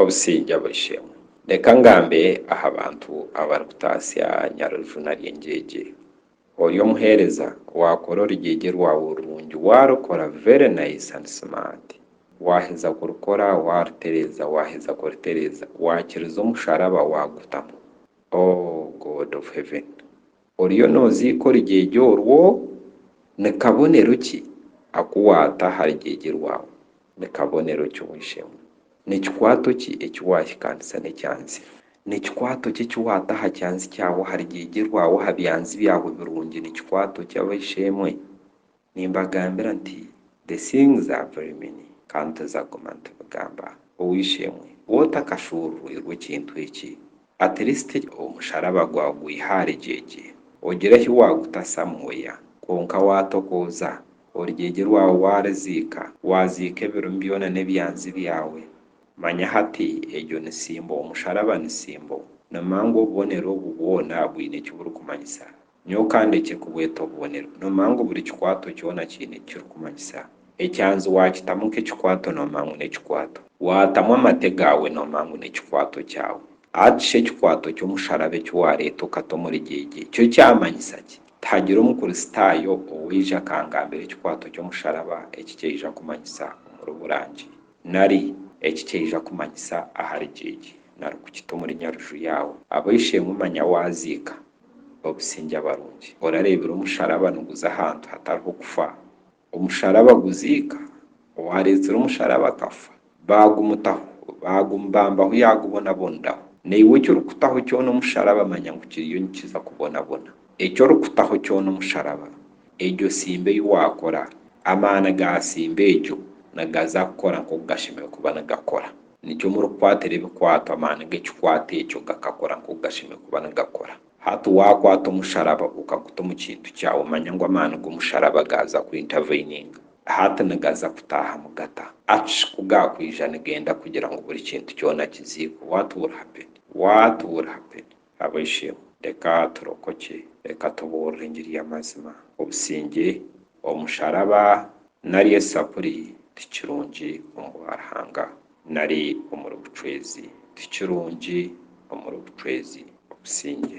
Obusingye Bw'Eishe-emwe. Reka ngambe aha bantu abarikutaasya Nyarujuuna ry'engyegye. Ori omuheereza, waakora orugyegye rwawe rurungi, waarukora very nice and smart, waaheza kurukora, waarutereeza, waaheza kurutereeza, waakiriza omusharaba waagutamu. Oh God of Heaven! Oriyo nooziika orugyegye orwo? Ni kabonero ki aku waata aha rugyegye rwawe? Ni kabonero ki oisheemu? Ni kikwato ki eki waahikaanisa n'ekyanzi? Ni kikwato ki eki waata aha kyanzi kyawe, aha rugyegye rwawe, aha byanzi byawe birungi? Ni kikwato ki, abaishe-emwe? Nimbagambira nti, The things are very many, kandi turiza kuguma nitubigamba. Ow'eishe-emwe ou otakashuururirwe kintu eki, at least omusharaba gwawe gwihe ahari gyegye, ogire ahi waagutasamu oya. Kwonka waatokooza, orugyegye rwawe waaruziika, waaziika ebirumi byona n'ebyanzi byawe, manya hati egyo ni symbol, omusharaba ni symbol. Ni mangu obubonero obu bwona bwine eki burikumanyisa. Nyowe ka ndekye kubweta obubonero. Noomanya ngu buri kikwato kyona kiine eki kirikumanyisa. Ekyanzi waakitamu nk'ekikwato noomanya ngu n'ekikwato. Waatamu amate gaawe noomanya ngu n'ekikwato kyawe. Hati shi ekikwato ky'omusharabe eki waareeta okata omuri gyegye kyo kyamanyisa ki? Tihagira Omukristaayo owaija akangambira ekikwato ky'omusharaba eki kyaija kumanyisa omuri Burangi, nari eki kyaija kumanyisa ahari gyegye, nari kukita omuri Nyaruju yaawe. Ab'eishe-emwe manya waaziika, obusingye abarungi. Orareebire omusharaba niguza ahantu hatariho kufa. Omusharaba guziika owaareetsire omusharaba akafa. Baagumutaho, baagumubambaho yaagubonaboneraho. Naiwe eki orikutaho kyona omusharaba manya ngu kiriyo nikiza kubonabona. Eki orikutaho kyona omusharaba, egyo simba ei waakora, amaani ga simba egyo nigaza kukora nk'oku gashemereire kuba nigakora. Nikyo murikukwatira ebikwato amaani g'ekikwato ekyo gakakora nk'oku gashemereire kuba nigakora. Hati waakwata omusharaba okaguta omu kintu kyawe, manya ngu amaani g'omusharaba gaaza ku interveninga. Hati nigaza kutaaha mu gata. Achh ku gaakwija nigenda kugira ngu buri kintu kyona kiziikwe. What will happen? What will happen? Abasyo, reka turokokye. Reka tubuurire engiri y'amazima. Obusingye, omusharaba, nari esapuri ti kirungi omu bwa Ruhanga, nari omuri bucwezi. Ti kirungi omuri bucwezi. Obusingye.